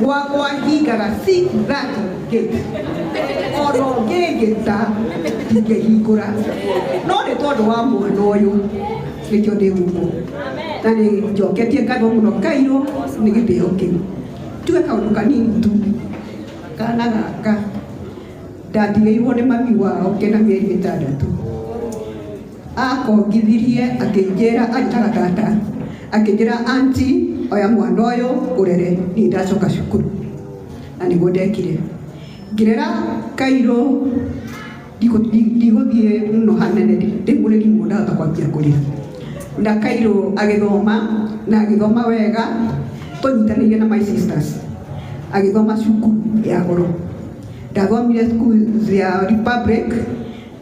gwagwa hingara si that gate ono ngĩngĩta ingĩhingũra no nĩ tondũ wa mwana ũyũ nĩkĩo ndĩ gumo na nĩ njoketie ngatho mũno kairũ nĩ gĩtĩo kĩu tuge kaũndũ kanini tu kana gaka ndatigĩirwo nĩ mami wao kena mĩeri ĩtandatũ Akongithirie akĩnjĩra ataragata, akĩnjĩra anti, oya mwana ũyũ ũrere, niĩ ndacoka cukuru, na nĩguo ndekire. Ngĩrera Kairũ ndigũthiĩ mũno hanene rĩu mũrĩri mũno ndahota kwambia kũrĩra, na Kairũ agĩthoma na agĩthoma wega tũnyitanĩire na my sisters, agĩthoma cukuru ya goro, ndathomire cukuru ya Republic.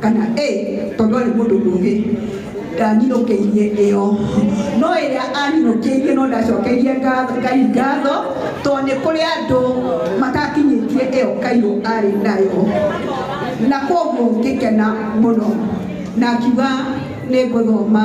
kana ĩ tondũ arĩ mũndũ mũgĩ ndaninũkĩirie ĩyo no ĩrĩa aninũkĩirie no ndacokeirie ngatho- ngai ngatho tondũ nĩ kũrĩ andũ matakinyĩtie ĩyo kairũ arĩ nayo na koguo ngĩkena mũno na akiuga nĩ ngũthoma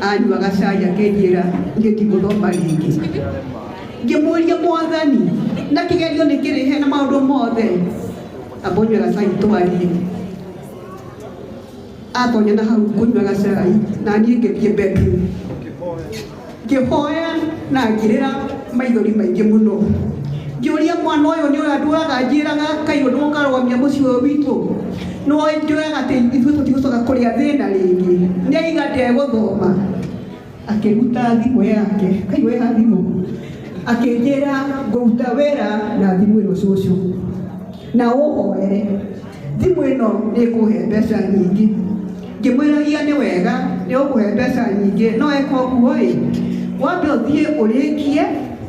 Anyu bagacaya ngĩnjĩra ngĩkĩmũthoma rĩngĩ ngĩmũria mwathani na kĩgerio nĩ kĩrĩhe na maũndũ mothe ambonyo gacai twarie atonya na hau kũnyua gacai na niĩ ngĩthiĩ bedroom ngĩhoya na ngĩrĩra maithori maingĩ mũno ngĩũria mwana ũyũ nĩ ũrĩa ndũraga njĩraga kaĩ ũndũ ũkarũgamia mũciĩ ũyũ witũ No ingĩoyaga atĩ ithuĩ tũtigũcoka kũrĩa thĩna rĩngĩ, nĩ aiga ndegũthoma. Akĩruta thimũ yake, kai we ha thimũ, akĩnjĩra ngũruta wĩra na thimũ ĩno cũcũ, na ũhoere thimũ ĩno nĩ ĩkũhe mbeca nyingĩ. Ngĩmwĩragia nĩ wega nĩ ũkũhe mbeca nyingĩ, no eka ũguo ĩ, wambe ũthiĩ ũrĩkie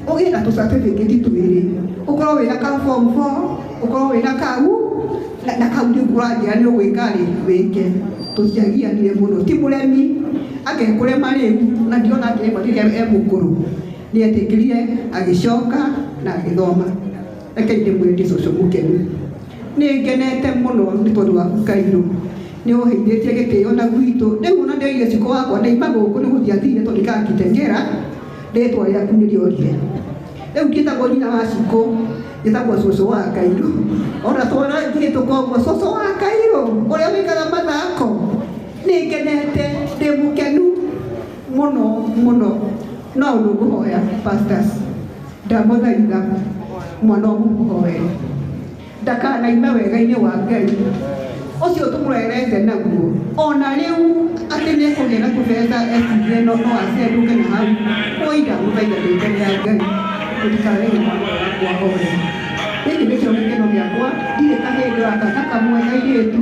ũgĩe na tũ certificate twĩrĩ, ũkorwo wĩna ka form four, ũkorwo wĩna ka u, na na kau nĩguo anjĩra nĩ ũgwĩkarĩ wĩke tũtiagianire mũno ti mũremi agekũrema rĩu na ndiona atĩ ĩmwe rĩrĩa e mũkũrũ nĩ etĩkĩrire agĩcoka na agĩthoma reke ndĩmwĩre ndĩ cũcũ mũkenu nĩ ngenete mũno nĩ tondũ waku kairũ nĩ ũheithĩtie gĩtĩo na gwitũ rĩu ona ndĩrire cikũ wakwa nĩ imagũkũ nĩ gũthiathire tondũ ikakitengera rĩtwa rĩaku nĩ rĩorire rĩu njĩtagwo nyina wa cikũ njĩtagwo cũcũ wa kairũ ona twana ngirĩ tũkombo cũcũ wa kairũ ũrĩa wĩkaga mathako nĩngenete ndĩ mũkenu mũno mũno no ũndũ ngũhoya pastors ndamũthaitha mwana ũmũhoere ndakanaime wega-inĩ wa Ngai ũcio tũmwerete naguo ona rĩu atĩ nĩ kũgĩa na kũbeta ecirie no no acendũke na hau kũiga gũthaitha rĩitwa rĩa Ngai tũtikarege mwana wakwa hore gĩkĩ nĩkĩo gĩkeno gĩakwa ndirĩ kahĩĩ ndĩraka kakamwe kairĩtu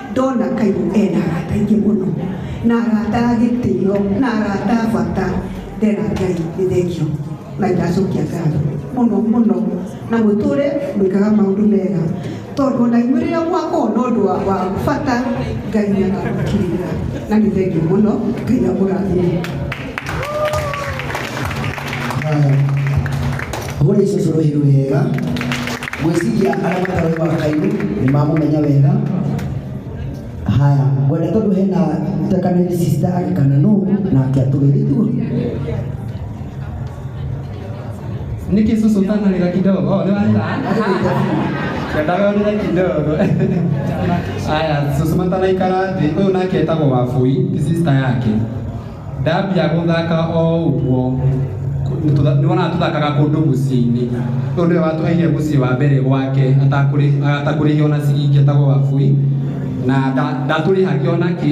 Ndona Kairũ ena arata aingĩ mũno na arata a gĩtĩo na arata a bata ndera Ngai nĩ thengio na ndacokia ngatho mũno mũno na mũtũre mwĩkaga maũndũ mega tondũ ona inyuĩ rĩrĩa mwakorwo na ũndũ wa wa bata Ngai nĩ akamũkirĩrĩra na nĩ thengio mũno Ngai amũrathime. Hũri cũcũ rũhĩ rwega gwĩciria arĩa matarĩ makairu nĩ mamũmenya wega haya ngwenda tondũ hena takanĩri sista agĩkana nũ na akĩatũgĩrĩtuo Niki susu tana nila kidogo. Oh, leo anda. Kendaga nila kidogo. Aya, susu matana ikara thĩ. Ũyũ nake etagwo Wabui, ti sister yake. ndambia gũthaka o ũguo nĩwona tũthakaga kũndũ mũciĩ-inĩ ũyũ nĩwe watũheire mũciĩ wa mbere gwake atakũrĩhio na ciringi etagwo wabui na ndatũrĩhagia ona kĩ